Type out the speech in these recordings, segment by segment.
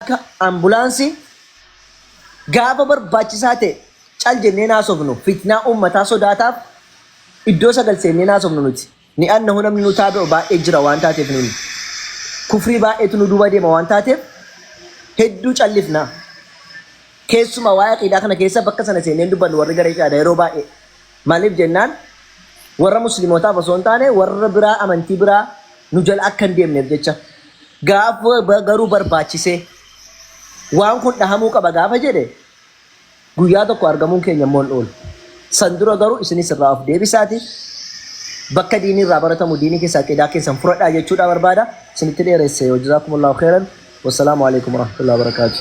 Akka ambulaansii gaafa barbaachisaa ta'e cal jennee naasofnu fitnaa uummataa sodaataaf iddoo sagal seennee naasofnu nuti. Ni'annahu namni nu taabi'u baay'ee jira waan taateef nuyi. Kufrii baay'eetu nu duuba deema waan taateef hedduu callifna. Keessumaa waa'ee aqiidaa kana keessa bakka sana seennee hin dubbannu warri garee qiyaadaa yeroo baay'ee. Maliif jennaan warra muslimootaaf osoo hin taane warra biraa amantii biraa nu jala akka hin deemneef jecha. Gaafa garuu barbaachisee waan kun dhahamuu qaba gaafa jedhe guyyaa tokko argamuun keenya immoo hin oolu. San dura garuu isinis irraa of deebisaati bakka diinii irraa baratamu diinii keessa aqiidaa keessan furadhaa jechuudhaa barbaada. Isinitti dheeresse. Wajazaakumullahu khairan. Wassalaamu alaikum warahmatullahi wabarakatuh.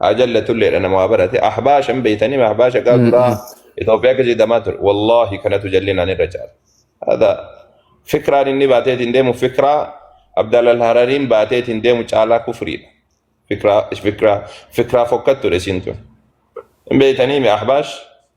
haa jallatulleedha nama waa barate ahbaashan beeytanii ahbaasha gaa duraa Itoophiyaa keessa jedhamaa ture wallaahi kanatu jallinaan irra caala hada fikraan inni baateetiin deemu fikraa abdaalal harariin baateetiin deemu caalaa kufriidha fikraa fikraa fikraa fokkattuudha isiin tun hin beeytanii mi ahbaash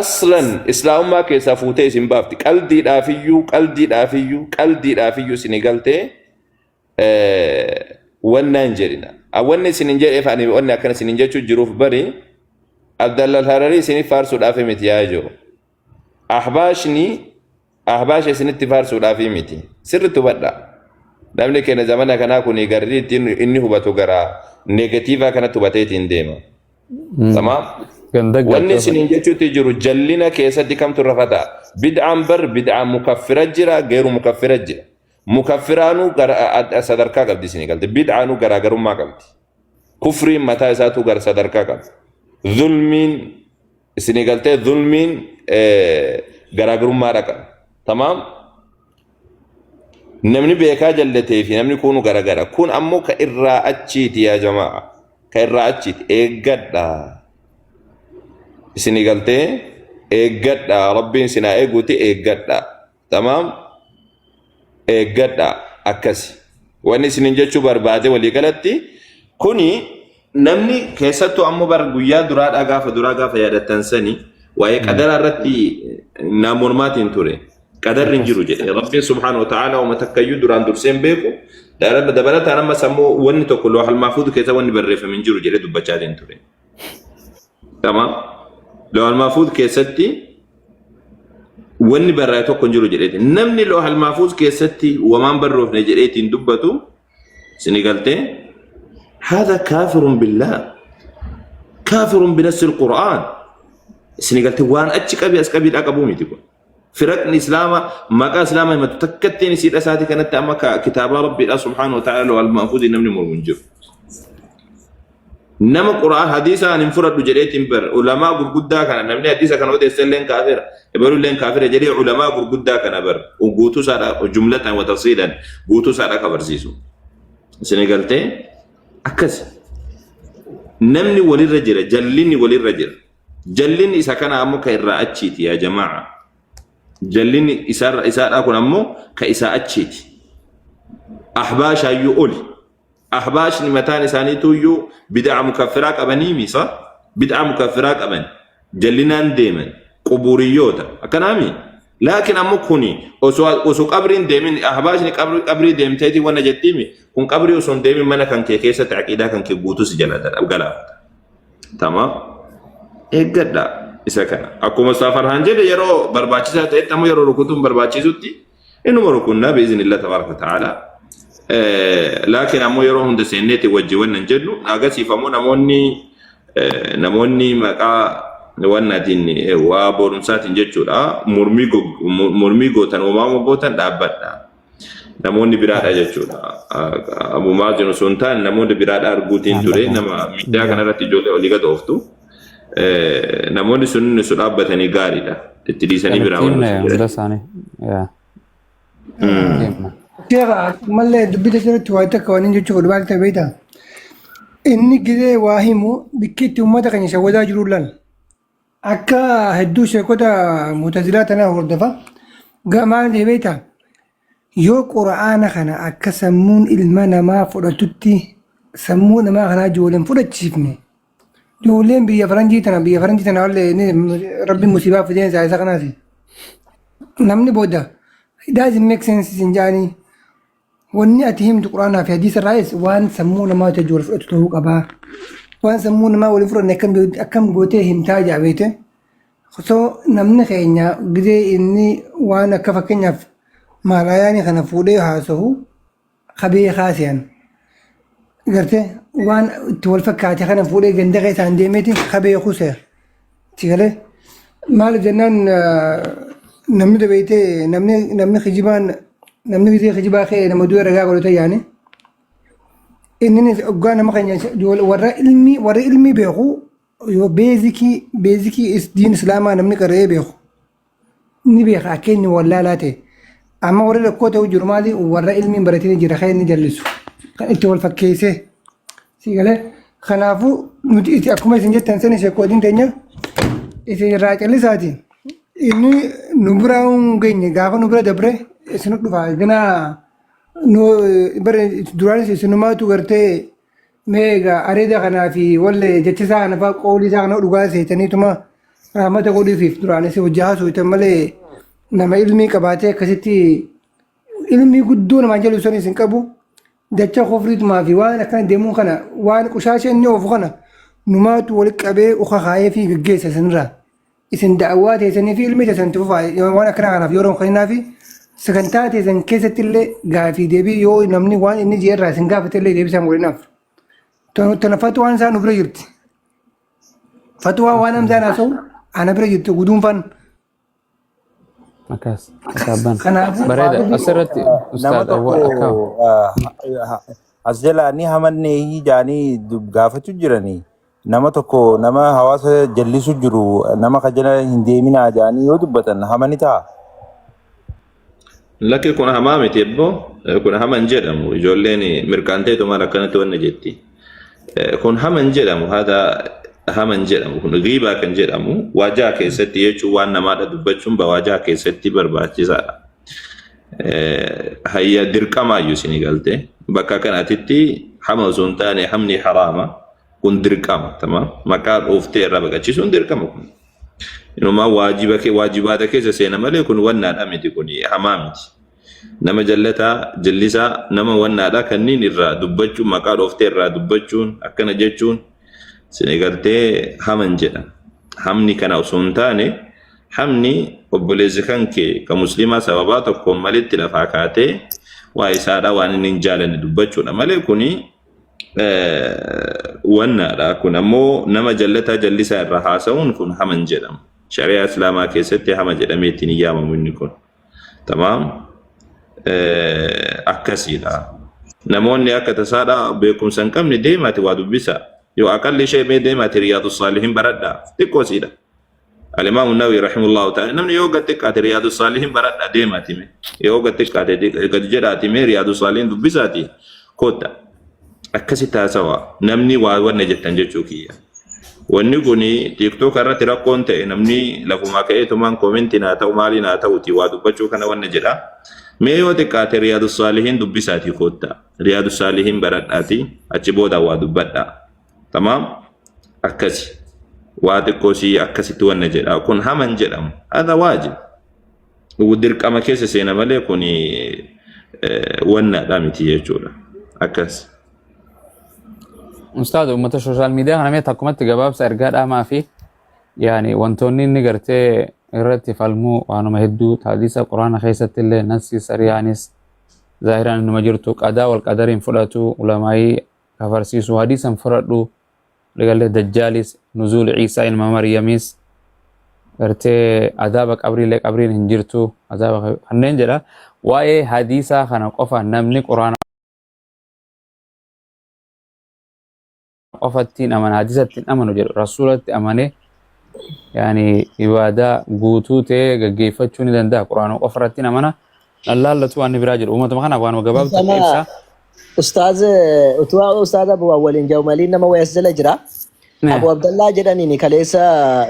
aslan islaamummaa keessaa fuutee isin baafti qaldiidhaafiyyuu qaldiidhaafiyyuu qaldiidhaafiyyuu isin galtee wannaan jedhina wanni isin hin jedheef ani wanni akkana isin hin jechuu jiruuf bari abdallal hararii isinif faarsuudhaaf miti yaa jiru ahbaashni Ahbaasha isinitti faarsuudhaafii miti. Sirriitti hubadhaa. Namni keenya zamana kanaa kun garri ittiin inni hubatu garaa negatiivaa kanatti hubatee ittiin deema. Tamaam. Ganda Wanni galtee isiniin jechuutti jiru jallina keessatti kamtu irra fataa. Bid'aan bar bid'aa mukaffira jira geeru mukaffira jira. Mukaffiraanuu gara- a- a- sadarkaa qabdi isinii galte. Bid'aanuu garaagarummaa qabdi. Kufriin mataa isaatu gar sadarkaa qaba. Zulmiin isinii galtee zulmiin garaagarummaadha qaba. Tamaam namni beekaa jallatee fi namni kuunu garagara. Kun ammoo ka irraa achiiti yaa jamaa. Ka irraa achiiti eeggadha. Isinii galtee eeggadha. Rabbiin sinaa eeguuti eeggadha. tamaam eeggadha akkasi wanni isinin jechuu barbaade walii galatti kuni namni keessattuu ammoo bara guyyaa duraadhaa gaafa duraa gaafa yaadattan sani waa'ee qadaraa irratti naa mormaatiin ture qadarri hin jiru jedhe rabbiin subhaana wa ta'aala wama takkayyuu duraan dursee hin beeku dabalataan ammas ammoo wanni tokko loohal maafuudu keessa wanni barreeffame hin jiru jedhe dubbachaatiin ture. Tamaam. Loohal Maafuuz keessatti wanni barraa'e tokko hin jiru jedheeti. Namni Loohal Maafuuz keessatti wamaan barroofne jedheetiin dubbatu sini galtee haadha kaafirun billaa kaafirun binassi qura'aan sini galtee waan achi qabi as qabiidhaa qabuu miti kun. Firaqni Islaama maqaa Islaama himatu takkattiin isiidha isaati kanatti amma ka kitaabaa Rabbiidha subhaanahu wa ta'ala lawal mahfuuziin namni mormu hin jiru. Nama Qur'aan hadiisa an hin fudhadhu jedheetiin bar ulamaa gurguddaa kana namni hadiisa kana odeesse illeen kaafira ebalu illeen kaafira jedhee ulamaa gurguddaa kana bar guutuu isaadha jumlataan wa tafsiilan guutuu isaadha ka barsiisu. Isin galtee akkasi. Namni walirra jira jallinni walirra jira. Jallinni isa kanaa ammoo ka irraa achiiti yaa jamaa'a. Jallinni isaarra isaadhaa kun ammoo ka isaa achiiti. Ahbaashaayyuu oli. Ahbaashni mataan isaaniituuyyuu bid'aa mukaffiraa qabanii misa bid'aa mukaffiraa qaban jallinaan deeman qubuuriyyoota akkanaami. Laakiin ammoo kuni osoo osoo qabriin deemin ahbaashni qabri qabrii deemteeti wanna jettiimi kun qabrii osoo hin deemin mana kan kee keessatti aqiidaa kan kee guutuu si jalaa galaafata. Tamaam. Eeggadha isa kana. Akkuma Ustaz Farhaan jedhe yeroo barbaachisaa ta'etti ammoo yeroo rukutuun barbaachisutti inuma rukunnaa biizinillah tabaaraka ta'ala. Laakiin ammoo yeroo hunda seenneeti wajji wanna hin jennu agasiif ammoo namoonni eh, namoonni maqaa wannaatiin eh, waa boorumsaatiin jechuudha mormii go- mo- mormii gootan uumama gootan dhaabbadha. namoonni biraadha jechuudha. Abu Maazin osoo hin taane namoonni biraadha arguutiin ture nama miidiyaa kanarratti ijoollee olii gad ooftu. Namoonni sun su dhaabbatanii gaariidha. Itti dhiisanii biraa Ittiin wanti sun hunda jedhan. isaanii. Yaa. Ittiin. Sheekha mallee dubbisa jirutti waa takka waan inni jechuu godhu maal ta'e beektaa? Inni gidee waa himu bikki itti uummata keenya isa wadaa jiru lan. Akka hedduu sheekota mutazilaa tanaa hordofa. Ga- Maal jee beektaa? Yoo qura'aana kana akka sammuun ilma namaa fudhatutti sammuu namaa kanaa ijoolleen fudhachiifne ijoolleen biyya faranjii tana biyya faranjii tana wallee inni rabbi musiibaa fideen isaa isa kanaati. Namni booda it doesn't make sense isin jaanii Wanni ati himtu Quraanaa fi Hadiisa irraayis waan sammuu namaa wajji wal fudhatu ta'uu qaba. Waan sammuu namaa wal hin fudhanne akkam beektu- akkam gootee himtaa jaa beekte. So namni keenya gidee inni waan akka fakkeenyaaf maalaayaanii kana fuudhee haasahu ka beekaa se'an. Garte waan itti wal fakkaate kana fuudhee ganda keessaan deemeeti ka beeku se'a. Itti galee maali jennaan namni dabeeytee namni namni kijibaan namni gizee kijibaa ka'e nama du'e ragaa godhata yaani. Inni oggaa nama keenya warra ilmii warra ilmii beeku yoo beezikii beezikii diin islaamaa namni qara'ee beeku ni beeka akka inni wallaalaa ta'e. Amma warri rakkoo ta'uu jiru maali warra ilmi hin baratiin jira kan inni jallisu kan itti wal fakkeessee si galee kanaafuu nuti itti akkuma isin jettan sana ishee koodiin teenya isin irraa callisaati inni nu bira hin geenye gaafa nu bira dabre isin dhufaa ganaa nu bara duraanis isinumaatu gartee Mee egaa areeda kanaa fi walle jecha isaa kana fa'aa qoolii isaa kana dhugaa seetaniituma rahmata godhiifiif duraan isa hojii haasooytan malee nama ilmii qabaatee akkasitti ilmii guddoo namaan jalu sanis hin qabu dacha kofriitumaa fi waan akkana deemuu kana waan qushaasha inni oofu kana numaatu walitti qabee uka kaa'ee fi gaggeessa sanirraa. isin da'awaa teessanii fi ilmii teessan itti fufaa waan akkanaa kanaaf yeroo hin kennaafi sagantaa teessan keessatti illee gaafii deebii yoo namni waan inni jee irraa isin gaafate illee deebisaan godhinaaf. Tana fatwaan isaa nu bira jirti. Fatwaa waan hamzaan haasa'u ana bira jirti guduunfaan. Akkas. Akaabbaan. Kanaafuu Bareeda. Faaduu Asirratti nama ustaad tokko Awwal Akaaw. ah, ah, as jalaa ni hamannee hijaanii dub- gaafachuu jiranii nama tokko nama hawaasa jallisu jiru nama ka jala hin deeminaa jedhanii yoo dubbatan hama ni ta'a. Lakki kun hamaa miti ebboo Eh, kun hama hin jedhamu ijoolleen mirqaanteetumaan akkanatti wanna jetti. Eh, Kun hama hin jedhamu haata hama hin jedhamu kun giibaa kan jedhamu waajaa keessatti jechuun waan namaadha dubbachuun ba waajaa keessatti barbaachisaadha. hayya dirqamaayyu isinii galte bakka kanatitti hama osoo hin taane hamni haraama kun dirqama tama maqaa dhooftee irraa baqachiisuun dirqama kun inumaa waajiba kee waajibaata keessa seena malee kun wannaadha miti kun hamaa miti nama jallataa jallisaa nama wannaadha kanniin irraa dubbachuun maqaa dhooftee irraa dubbachuun akkana jechuun Isin egartee haman jedha. Hamni kana osoo hin taane hamni obboleessi kan kee kan musliimaa sababaa tokkoon malitti lafaa kaatee waa isaadha waan inni hin jaalanne dubbachuudha malee kuni wannaadha. Kun ammoo nama jallataa jallisaa irraa haasa'uun kun haman jedhama. Shari'aa Islaamaa keessatti hama jedhamee ittiin hin yaamamu inni kun. Tamaam akkasiidha. Namoonni akka tasaadha beekumsa hin qabne deemaati waa dubbisa. Yoo aqalli ishee mee deemaati riyaadu saalihin baradha. Xiqqoo siidha. Alimaam Nawawi rahimullahu ta'ala namni yoo gad xiqqaate riyaadu saalihin baradha deemaati mee. Yoo gad xiqqaate gad jedhaati mee riyaadu saalihin dubbisaati kootta. akkasitti haasawaa namni waa wanna jettan jechuu kiyya. Wanni kun TikTok irratti rakkoon ta'e namni lafumaa ka'ee tumaan koomentiin haa ta'u maaliin haa ta'uti waa dubbachuu kana wanna jedha. Mee yoo xiqqaate Riyaadu Saalihiin dubbisaatii koottaa. Riyaadu Saalihiin baradhaatii achi booda waa dubbadhaa. Tamaam akkasi. Waa xiqqoo sii akkasitti wanna jedha. Kun haman jedhamu. Hadha waajib. dirqama keessa seena malee kun wannaadha miti jechuudha. Akkas. Ustaaza uummata sooshaal miidiyaa kana mee takkumatti gabaabsa ergaa dhaamaa fi yaani wantoonni inni gartee irratti falmuu waanuma hedduu taadisa quraana keessatti illee nassi sariyaanis zaahiraan innuma jirtu qadaa wal qadariin fudhatu ulamaayii kafarsiisu hadiisan fudhadhu Dagalee Dajjaalis, Nuzuul Ciisaa ilma Maryamiis, gartee azaaba qabriillee qabriin hin jirtu, azaaba kanneen jedha. Waa'ee hadiisaa kana qofa namni quraana qofatti hin amanu, hadiisatti hin amanu jedhu, rasuulatti amanee yaani ibaadaa guutuu ta'ee gaggeeffachuu ni danda'a. Quraana qofa irratti hin amana. Allaallatu waan biraa jedhu uumatuma kanaaf waanuma gabaabdu takka Sama ibsaa. ustaaz utuu ustaaz Abu waliin jahu maliin nama wayas jala jira. Ne. Abu Abdallaa jedhaniin kaleessa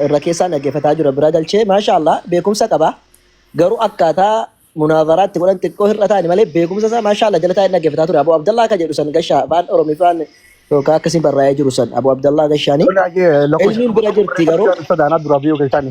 irra keessaan dhaggeeffataa jira bira galchee maashaallah beekumsa qaba. Garuu akkaataa munaavaraatti godhan xiqqoo hir'ataani malee beekumsa isaa maashaallah jala taa'ee dhaggeeffataa ture. Abu Abdallaa kan jedhu san gashaa afaan Oromiffaan yookaan akkasiin barraa'ee jiru san Abu Abdallaa gashaanii. Ilmiin bira jirti garuu. Sodaanaa dura biyyoo keessani.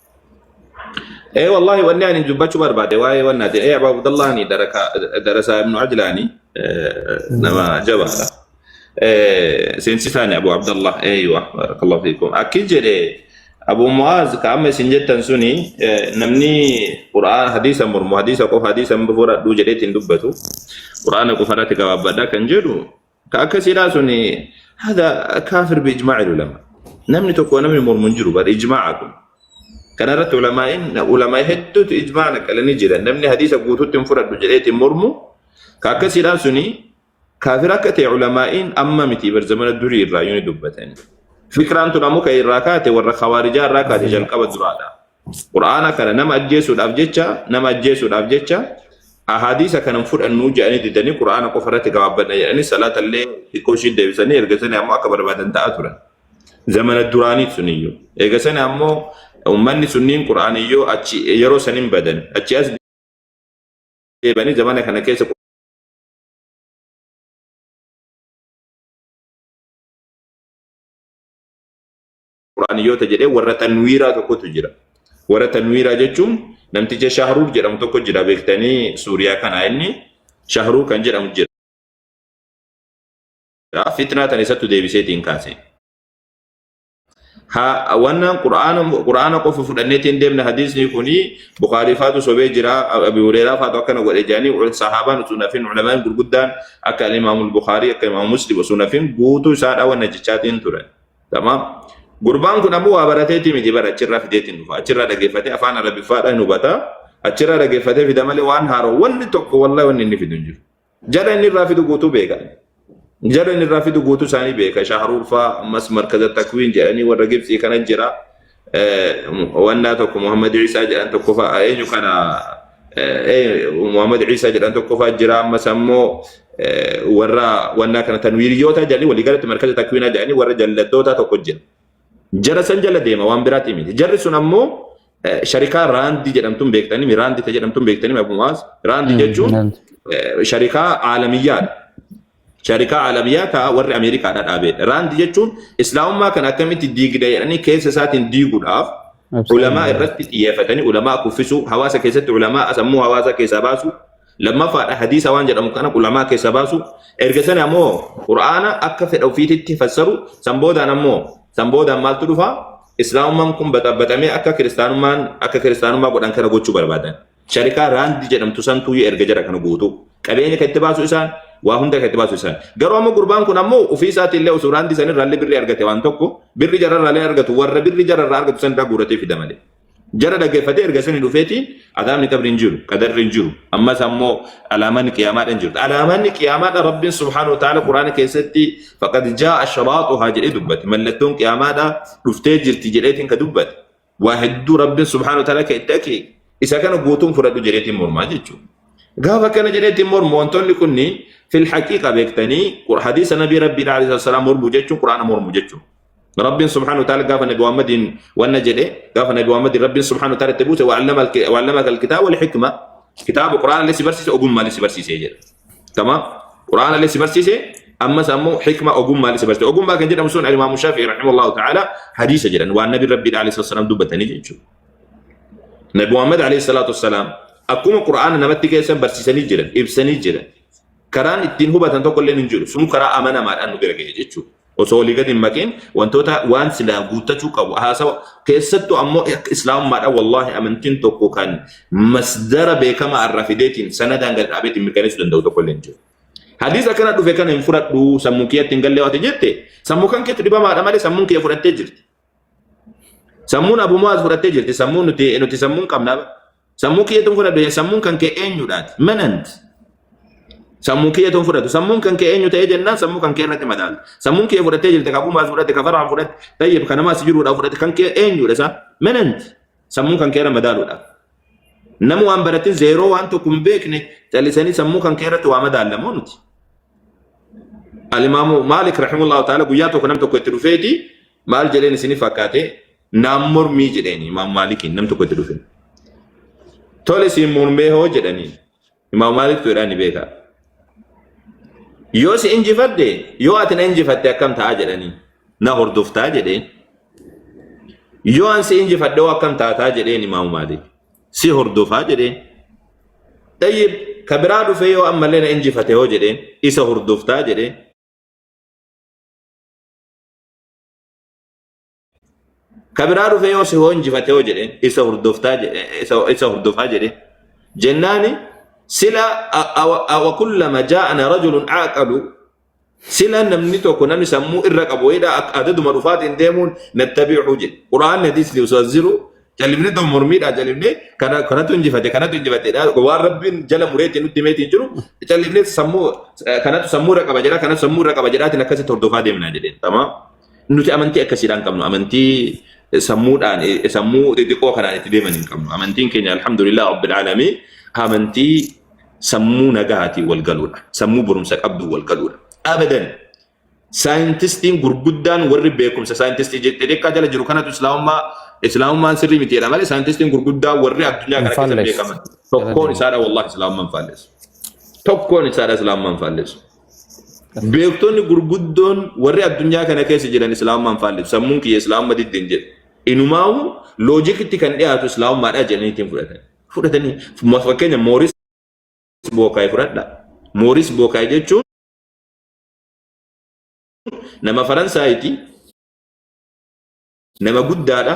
Ee wallaahi wanni ani dubbachuu barbaade waa'ee wanni ati ee Abu Abdallaani darasaa ibnu Ajlaani nama jabaadha. Ee, Seensisaani Abu Abdallah eeywa barakallahu fiikum. Akki jedhe Abu Mu'aaz ka amma isin jettan suni eh, namni Qur'aan hadiisa mormu hadiisa qofa hadiisa hin fudhadhu jedheetiin dubbatu. Qur'aana qofa irratti gabaabbadha kan jedhu Ka akkasidhaa sun hada kaafir bi ijmaa'il ulama. Namni tokko namni mormu hin jiru bar ijmaa'a kun. Kana irratti ulamaa'in ulama hedduutu ijmaa'a naqalanii jiran. Namni hadiisa guutuutti hin fudhadhu jedheeti hin mormu. Ka akkasidhaa sun kaafir akka ta'e ulamaa'in amma miti bar zamana durii irraa yoo ni dubbatan. Fikraan tun ammoo kan irraa kaate warra khawaarijaa irraa kaate jalqaba duraadha. Qur'aana kana nama ajjeesuudhaaf jecha nama ajjeesuudhaaf jecha ahadiisa kanan fudhannuu jedhanii didanii Qur'aana qofa irratti gabaabbanna jedhanii salaata illee xiqqoo ishii deebisanii ergasanii ammoo akka barbaadan ta'aa turan. Zamana duraaniif suniyyuu. Eegasanii ammoo ummanni sunniin Qur'aaniyyoo achi yeroo saniin badan achi as deebanii zamana kana keessa Qur'aaniyyoota jedhee warra tanwiiraa tokkotu jira. Warra tanwiiraa jechuun namticha Shahruur jedhamu tokko jira beektanii Suuriyaa kanaa inni Shahruur kan jedhamu jira. Fitnaa tan isattu deebiseetiin kaase. Ha- Wannaan Qur'aana Qur'aana qofa fudhanneetiin deemna hadiisni kuni Bukhaarii faatu sobee jira Abi Hureeraa faatu akkana godhe jedhanii ul- sahaabaan utuu nafin ulamaan gurguddaan akka Imaamul Bukhaarii akka Imaam Muslim osoo nafin guutuu isaadha wanna jechaatiin turan. Tamaam. Gurbaan kun ammoo waa barateetii miti bara achirraa fideetiin dhufa. Achirraa dhaggeeffatee afaan Arabiffaadha hin hubata. Achirraa dhaggeeffatee fida malee waan haaroo wanni tokko wallahi wanni inni fidu hin jiru. Jara inni irraa fidu guutuu beeka. Jara inni irraa fidu guutuu isaanii beeka. Shaaharuurfaa ammas markaza takwiin jedhanii warra Gibxii kana jira. wannaa tokko Muhammad Isaa jedhan tokko fa'a eenyu kana Muhammad Isaa jedhan tokko fa'a jira ammas ammoo warra wannaa kana tanwiiriyyoota jedhanii walii galatti markaza takwiinaa jedhanii warra jallattoota tokko jira. Jara san jala deema waan biraatti miti. Jarri sun ammoo sharikaa raandii jedhamtuun beektanii raandii ta jedhamtuun beektanii abumaas raandii jechuun sharikaa aalamiyyaadha. Sharikaa Alabiyyaa taa warri Ameerikaadhaa dhaabeedha. Raand jechuun Islaamummaa kana akkamitti diigda jedhanii keessa isaatiin diiguudhaaf ulamaa irratti xiyyeeffatanii ulamaa kuffisuu, hawaasa keessatti ulamaa sammuu hawaasaa keessaa baasuu, lammaffaadha hadiisa waan jedhamu kana ulamaa keessaa baasuu, erga sana ammoo Qur'aana akka fedha ofiititti fassaru, san boodaan ammoo san boodaan maaltu dhufa? Islaamummaan kun baxabaxamee akka kiristaanummaan akka kiristaanummaa godhan kana gochuu barbaadan. Sharikaa raandi jedhamtu santuuyyu erga jara kana guutuu. Qabeenya kan itti baasu isaan, waa hunda kan itti baasu isaan. Garuu amma gurbaan kun ammoo ofii isaatii illee osoo raandi san irraallee birri argate waan tokko birri jara irraallee argatu warra birri jara irraa argatu san irraa guuratee fida malee. Jara dhaggeeffatee erga sani dhufeetiin azaabni qabri hin jiru, qadarri hin jiru. Ammas ammoo alaamanni qiyaamaadha hin jirtu. Alaamanni qiyaamaadha Rabbiin subhaanahu wa ta'aala Qur'aana keessatti faqad jaa'a shiraaxuhaa jedhee dubbate. Mallattoon qiyaamaadha dhuftee jirti jedheetiin ka dubbate. waa hedduu rabbiin subhaanahu ta'ala kan itti ake isa kana guutuun fudhadhu jedheetiin mormaa jechuudha. Gaafa akkana jedheetiin mormu wantoonni kunniin fil haqiiqa beektanii hadiisa nabii rabbiidha alayhi salaam mormu jechuun quraana mormu jechuudha. Rabbiin subhaanahu ta'ala gaafa nabi Muhammadiin wanna jedhe gaafa nabi Muhammadiin rabbiin subhaanahu ta'ala itti buuse wa'allama kitaaba wal hikma kitaaba quraana illee si barsiise ogummaa illee si barsiise jedha. Tamaam. Qur'aana illee si barsiise ammas ammoo hikma ogummaa illee si barsiise. Ogummaa kan jedhamu sun Imaamu Shaafi'i rahimahullahu ta'ala hadiisa jedhan waan nabi rabbi alayhi salatu wassalam dubbatanii jechuudha. Nabi Muhammad alayhi salatu wassalam akkuma Qur'aana namatti keessan barsiisanii jiran ibsanii jiran karaan ittiin hubatan tokko illee hin jiru sun karaa amanamaadhaan nu bira ga'e jechuudha. Osoo walii gadi hin maqiin wantoota waan silaa guuttachuu qabu haasawa keessattu ammoo akka islaamummaadha wallaahi amantiin tokko kan masdara beekamaa irraa fideetiin sanadaan gad dhaabeetiin mirkaneessuu danda'u tokko illee hin jiru. Hadiis akkana dhufe kana hin fudhadhu sammuu kiyyatti hin galle waati jette sammuu kan keetu dhibamaadha malee sammuun kiyya fudhattee jirti. Sammuun Abu Mu'aaz fudhattee jirti. Sammuun nuti nuti sammuun qabna. Sammuu kiyyatuun fudhadhu jee sammuun kan kee eenyudhaati? Manant. Sammuu kiyyatuun fudhatu. Sammuun kan kee eenyu ta'ee jennaan sammuu kan kee irratti madaalta. Sammuun kiyya fudhattee jirti. Ka Abu Mu'aaz fudhatte, ka Farhaan fudhatte, tayyib ka namaa si jiruudhaa fudhatte kan kee eenyudha isaa? Manant. sammuu kan keerra madaaluudhaaf. Nama waan baratin zeeroo waan tokko hin beekne callisanii sammuu kan keerratti waa madaallamoo nuti. Alimaamu Maalik rahimullahu ta'ala guyyaa tokko nam tokko itti dhufeeti maal jedheen isinif fakkaate naam mormii jedheen imaam Maalikiin nam tokko itti dhufe. Tole siin mormee hoo jedhaniin. Imaam Maaliktu jedhaa ni beekaa. Yoo si injifadhe yoo ati na injifatte akkam ta'a jedhanii na hordoftaa jedheen. Yoo an si injifadhe hoo akkam taataa jedheen Imaam Maalik. Si hordofaa jedheen. Tayyib ka biraa dhufee yoo ammallee na injifate hoo jedheen isa hordoftaa jedheen. Ka biraa dhufee yoo si hoo injifate hoo jedheen isa hordoftaa je- eh, isa isa hordofaa jedheen. Jennaani sila a- awa- awa kullama jaa'ana rajulun aqalu sila namni tokko namni sammuu irra qabu wayidha akka adaduma dhufaatiin deemuun nattabi'u jedhe. Qura'aanni hadiisni osoo as jiru jalibni tokko mormiidha jalibni kana kanatu injifate kanatu injifate waan rabbiin jala mureetti nutti meetiin jiru jalibni sammuu eh, kanatu sammuu irra qaba jedha kanatu sammuu irra qaba jedhaatiin akkasitti hordofaa deemna jedheen. Tamaa. Nuti amantii akkasiidhaan qabnu amantii sammuudhaan sammuu xixiqqoo kanaan itti deeman hin qabnu. Amantiin keenya alhamdulillah rabbil aalamiin amantii sammuu nagaatiin wal galuudha. Sammuu barumsa qabdu wal galuudha. Abadan saayintistiin gurguddaan warri beekumsa saayintistii xixiqqaa jala jiru kanatu islaamummaa islaamummaan sirrii miti jedha malee saayintistiin gurguddaa warri addunyaa kana keessa beekaman tokkoon isaadha wallahi islaamummaan faallessu. Tokkoon isaadha islaamummaan faallessu. Beektonni gurguddoon warri addunyaa kana keessa jiran islaamummaan faallisu. Sammuun kiyya islaamumma diddeen jedhu. Inumaawu loojikitti kan dhiyaatu islaamummaadhaa jedhanii ittiin fudhatan. Fudhatanii fakkeenya Mooris Bookaay fudhadha. Mooris Bookaay jechuun nama Faransaayiti, nama guddaadha.